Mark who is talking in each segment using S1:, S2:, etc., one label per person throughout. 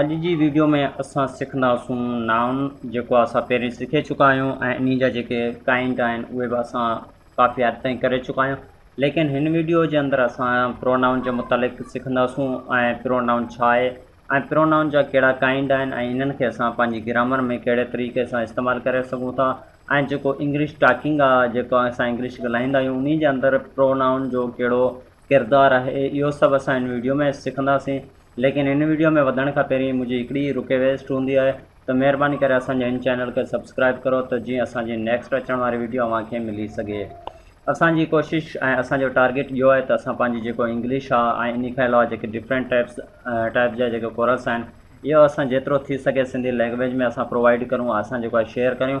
S1: اڄ جي ويڊيو ۾ اسان سکنداسون Noun جيڪو اسان پهرين سکي چڪا آهيون ۽ انهي جا جيڪي Kind آهن اهي به اسان ڪافي حد تائين ڪري چڪا آهيون ليڪن هن ويڊيو جي اندر اسان Pronoun جي متعلق سکنداسون ۽ Pronoun ڇا آهي ۽ Pronoun جا ڪهڙا Kind آهن ۽ انهن کي اسان پنهنجي گرامر ۾ ڪهڙي طريقي سان استعمال ڪري سگهون ٿا ۽ جيڪو انگلش ٽاڪنگ آهي جيڪو اسان انگلش ڳالهائيندا آهيون انهي جي اندر Pronoun جو ڪهڙو ڪردار آهي اهو سڀ اسان هن ويڊيو ۾ سکنداسين ليڪن هن ويڊيو ۾ وڌڻ کان پهرين منهنجي هڪڙي ئي رڪويسٽ هوندي آهي ته مهرباني ڪري اسان جي هن چينل کي سبسڪرائب ڪرو ته جيئن اسان جي نيڪسٽ اچڻ واري ويڊيو اوهان کي ملي سگهي اسان جي ڪوشش ۽ اسان جو ٽارگيٽ اهو آهي ته اسان پنهنجي جيڪو انگلش آهي ۽ ان کان علاوه جيڪي ڊفرنٽ ٽائپس ٽائپ جا جيڪي ڪورس آهن اهو اسان جيترو ٿي سگهي سنڌي لينگويج ۾ اسان پرووائيڊ ڪرون اسان جيڪو آهي شيئر ڪريون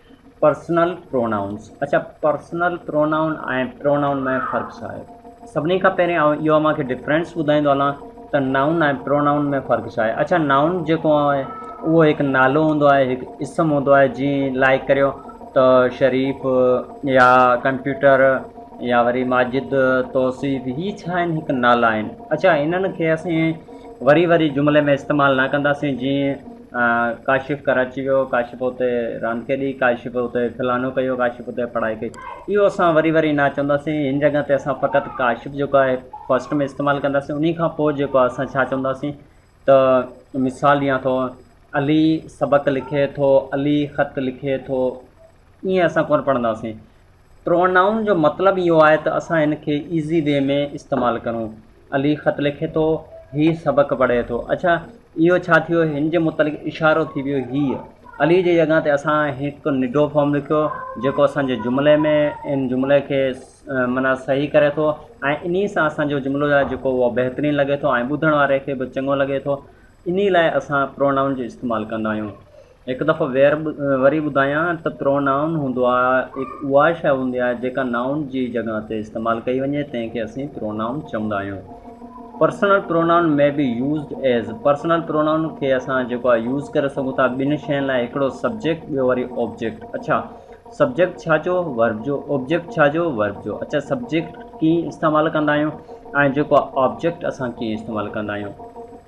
S1: پرسنل پرونائونس اڇا پرسنل پرونائون ۽ پرونائون ۾ فرق ڇا آهي سڀني کان پهرين آئون اهو اوهان کي ڊفرينس ٻڌائيندو هلان ته نائون ۽ پرونائون ۾ فرق ڇا آهي اڇا نائون جيڪو آهي اهو هڪ نالو هوندو آهي هڪ اسم هوندو آهي جيئن لائق ڪريو ته شريف يا ڪمپيوٽر يا وري ماجد توصيف هي ڇا آهن هڪ نالا آهن اڇا انهن کي اسين وري وري جملي ۾ استعمال نه ڪنداسين جيئن ڪاشف ڪراچي ويو، ڪاشف اتي راند کيڏي، ڪاشف اتي فلانو ڪيو، ڪاشف اتي پڙهائي ڪئي. اهو اسان وري وري نه چونداسين، هن جڳهه تي اسان فقط ڪاشف جيڪو آهي فرسٽ ۾ استعمال ڪنداسين، انهي کان پوء جيڪو آهي اسان ڇا چونداسين ته مثال ڏيان ٿو علي سبق لکي ٿو، علي خط لکي ٿو، ائين اسان ڪونه پڙهنداسين. پرونائون جو مطلب اهو آهي ته اسان هن کي ايزي وي ۾ استعمال ڪرون. علي خط لکي ٿو، هي سبق پڙهي ٿو. اڇا! اهو ڇا ٿيو؟ هن جي متعلق اشارو ٿي ويو. هيء علي جي جڳهه تي اسان هڪ نڊو فارم لکيو، جيڪو اسان جي جملي ۾ ان جملي کي معنيٰ صحيح ڪري ٿو ۽ انهيء سان اسان جو جملو آهي، جيڪو اهو بهترين لڳي ٿو ۽ ٻڌڻ واري کي به چڱو لڳي ٿو. انهيء لاء اسان پرونائون جو استعمال ڪندا آهيون. هڪ دفعو وير وري ٻڌايان ته پرونائون هوندو آهي هڪ اها شيء هوندي آهي جيڪا نائون جي جڳهه تي استعمال ڪئي وڃي تنهن کي اسين پرونائون چوندا آهيون personal pronoun may be used as personal pronoun کي اسان جيڪو آهي يوز ڪري سگهون ٿا ٻن شين لاء هڪڙو سبجيڪٽ ٻيو وري آبجيڪٽ اڇا سبجيڪٽ ڇا جو ورب جو آبجيڪٽ ڇا جو ورب جو اڇا سبجيڪٽ ڪيئن استعمال ڪندا آهيون ۽ جيڪو آبجيڪٽ اسان ڪيئن استعمال ڪندا آهيون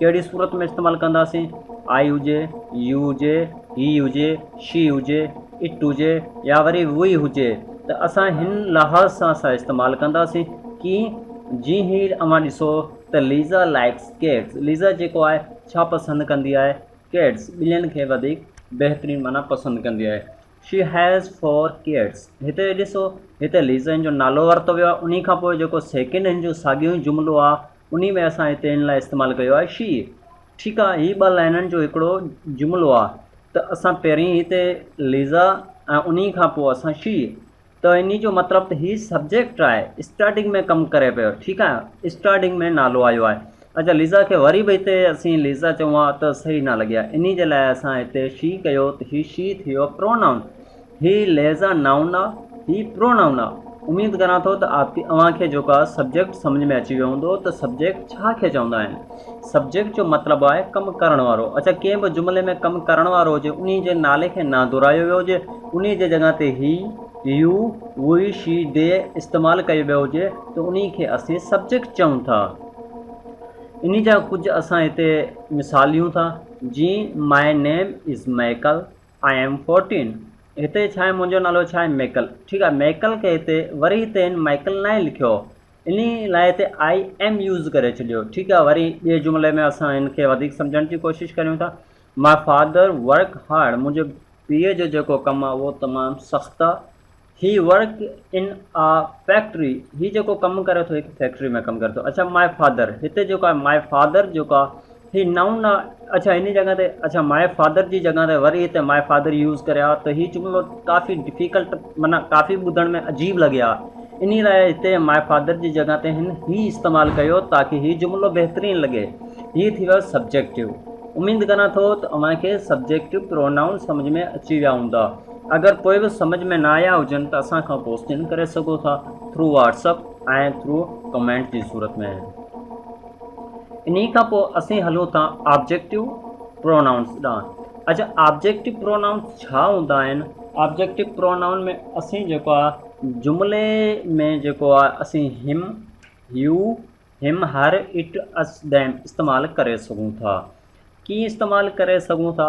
S1: ڪهڙي صورت ۾ استعمال ڪنداسين؟ آء هجي، يو هجي، هي هجي، شي هجي، اٽ هجي يا وري ووئي هجي ته اسان هن لحاظ سان سا استعمال ڪنداسين ڪيئن؟ جي هي اوهان ڏسو ته ليزا لائيڪس ڪيٽس ليزا جيڪو آهي ڇا پسند ڪندي آهي؟ ڪيٽس ٻلين کي وڌيڪ بهترين معنيٰ پسند ڪندي آهي. شي هيز فور ڪيٽس هتي ڏسو هتي ليزا هن جو نالو ورتو ويو آهي انهي کانپوء جيڪو سيڪنڊ هن جو ساڳيو ئي جملو آهي انهي ۾ اسان هتي هن لاء استعمال ڪيو آهي شيء. ٺيڪ آهي، هي ٻه لائنن جو هڪڙو جملو آهي ته اسان پهرين هتي ليزا ۽ انهي کان پوء اسان شيء. ته انهي جو مطلب ته هي سبجيڪٽ آهي، اسٽارٽنگ ۾ ڪم ڪري پيو، ٺيڪ آهي، اسٽارٽنگ ۾ نالو آيو آهي. اچا ليزا کي وري به هتي اسين ليزا چئون ها ته صحيح نه لڳي ها، انهي جي لاء اسان هتي شي ڪيو ته هي شي ٿي ويو پرونائون. هي لهذا نائون آ هي پرو نائون آ. اميد ڪران ٿو ته اوهان کي جيڪو آ سبجيڪٽ سمجهه ۾ اچي ويو هوندو ته سبجيڪٽ ڇا کي چوندا آهن. سبجيڪٽ جو مطلب آهي ڪم ڪرڻ وارو. اڇا ڪنهن به جملي ۾ ڪم ڪرڻ وارو هجي انهي جي نالي کي نه دهرايو ويو هجي انهي جي جڳهه تي هي، يو، وهي، شي، دي استعمال ڪيو ويو هجي ته انهي کي اسين سبجيڪٽ چئون ٿا. انهي جا ڪجهه اسان هتي مثال ڏيون ٿا جيئن my name is Michael. I am fourteen هتي ڇا آهي منهنجو نالو ڇا آهي ميڪل ٺيڪ آهي ميڪل کي هتي وري هتي هن مائيڪل ناهي لکيو انهي لاء هتي آء ايم يوز ڪري ڇڏيو ٺيڪ آهي وري ٻئي جملي ۾ اسان هن کي وڌيڪ سمجهڻ جي ڪوشش ڪريون ٿا ماء فادر ورڪ هارڊ منهنجي پيء جو جيڪو ڪم آهي اهو تمام سخت آهي he work in a factory هي جيڪو ڪم ڪري ٿو هڪ فيڪٽري ۾ ڪم ڪري ٿو اڇا مائي فادر هتي جيڪو آهي مائي فادر جيڪو آهي هي نائون آ اڇا هن جڳهه تي اڇا مائي فادر جي جڳهه تي وري هتي مائي فادر يوز ڪري آ ته هي جملو ڪافي ڊفيڪلٽ معنيٰ ڪافي ٻڌڻ ۾ عجيب لڳي آ انهي لاء هتي مائي فادر جي جڳهه تي هن هي استعمال ڪيو تاڪي هي جملو بهترين لڳي هي ٿي ويو سبجيڪٽو اميد ڪران ٿو ته اوهان کي سبجيڪٽو پرونائون سمجهه ۾ اچي ويا هوندا اگر پوء به سمجھ ۾ نه آيا هجن ته اسان کان ڪوسچن ڪري سگهو ٿا through WhatsApp ۽ through comment جي صورت ۾ انهي کان پوء اسين هلون ٿا آبجيڪٽو پرونائونس ڏانهن اچا آبجيڪٽو پرونائونس ڇا هوندا آهن آبجيڪٽو پرونائون ۾ اسين جيڪو آ جملي ۾ جيڪو آ اسين هيم هيو هيم هر اٽ اس ديم استعمال ڪري سگهون ٿا ڪيئن استعمال ڪري سگهون ٿا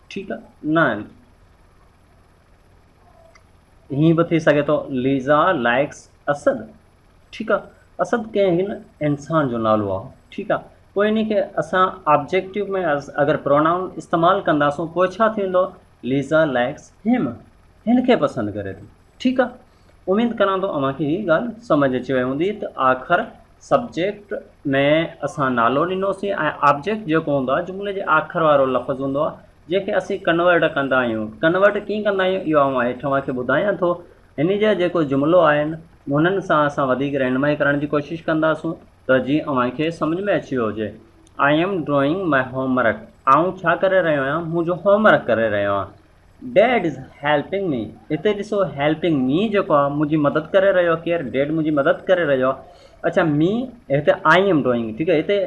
S1: ٺيڪ نه آهن. ائين به ٿي سگهي ٿو ليزا لائڪس اسد ٺيڪ آ اسد ڪنهن هن انسان جو نالو آ ٺيڪ آ پوء ان کي اسان آبجيڪٽو ۾ اگر پرونائون استعمال ڪنداسون پوء ڇا ٿيندو ليزا لائڪس هيم هن کي پسند ڪري ٿي ٺيڪ آ اميد ڪران ٿو اوهان کي هي ڳالهه سمجهه اچي وئي هوندي ته آخر سبجيڪٽ ۾ اسان نالو ڏنوسين ۽ آبجيڪٽ جيڪو هوندو آهي جملي جي آخر وارو لفظ هوندو آهي جنهن کي اسين ڪنورٽ ڪندا آهيون ڪنورٽ ڪيئن ڪندا آهيون اهو آئون هيٺ اوهان کي ٻڌايان ٿو هن جا جيڪو جملو آهن انهن سان اسان وڌيڪ رهنمائي ڪرڻ جي ڪوشش ڪنداسون ته جيئن اوهان کي سمجهه ۾ اچي ويو هجي I am drawing my homework آئون ڇا ڪري رهيو آهيان منهنجو هوم ورڪ ڪري رهيو آهيان ڊيڊ از هيلپنگ مي هتي ڏسو هيلپنگ مي جيڪو آهي منهنجي مدد ڪري رهيو آهي ڪير ڊيڊ منهنجي مدد ڪري رهيو آهي اڇا مي هتي آئي ايم ڊوئنگ ٺيڪ آهي هتي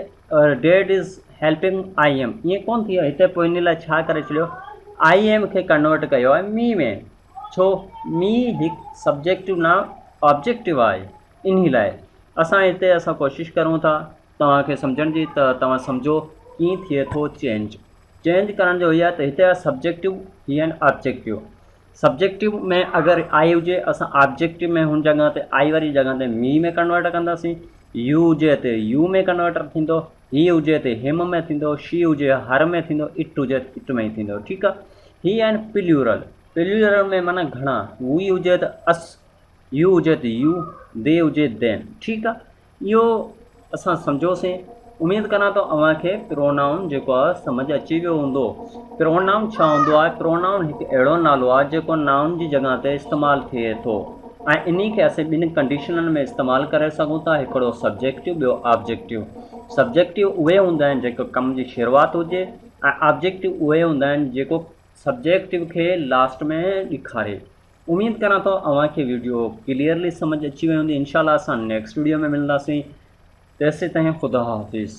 S1: dad is helping I am ائين ڪون ٿي هتي پوء ان لاء ڇا ڪري ڇڏيو آئي ايم کي ڪنورٽ ڪيو آهي مي ۾ ڇو مي هڪ سبجيڪٽو نام آبجيڪٽو آهي ان لاء اسان هتي اسان ڪوشش ڪرون ٿا توهان کي سمجهڻ جي ته توهان سمجهو ڪيئن ٿئي ٿو چينج چينج ڪرڻ جو هي آهي ته هتي آهي سبجيڪٽو هي آهن آبجيڪٽو سبجيڪٽو ۾ اگر آئي هجي اسان آبجيڪٽو ۾ هن جڳهه تي آئي واري جڳهه تي مي ۾ ڪنورٽ ڪنداسين يو هجي هتي يو ۾ ڪنورٽر ٿيندو هي هجي هتي هيم ۾ ٿيندو شي هجي هر ۾ ٿيندو اٽ هجي اٽ ۾ ٿيندو ٺيڪ آهي هي آهن پليورل پليورل ۾ معنی گهڻا وي هجي ته اس يو هجي ته يو دي هجي دين ٺيڪ آهي اهو اسان سمجهيوسين. اميد ڪران ٿو اوهان کي پرونائون جيڪو آهي سمجهه اچي ويو هوندو. پرونائون ڇا هوندو آهي؟ پرونائون هڪ اهڙو نالو آهي جيڪو نائون جي جڳهه تي استعمال ٿئي ٿو ۽ انهي کي اسين ٻن ڪنڊيشنن ۾ استعمال ڪري سگهون ٿا هڪڙو سبجيڪٽو ٻيو آبجيڪٽو. سبجيڪٽو اهي هوندا آهن جيڪو ڪم جي شروعات هجي ۽ آبجيڪٽو اهي هوندا آهن جيڪو سبجيڪٽو کي لاسٽ ۾ ڏيکاري. اميد ڪريان ٿو اوهان کي ويڊيو ڪليئرلي سمجھ اچي وئي هوندي انشاء الله اسان نيڪسٽ ويڊيو ۾ ملنداسين تيسي تائين خدا حافظ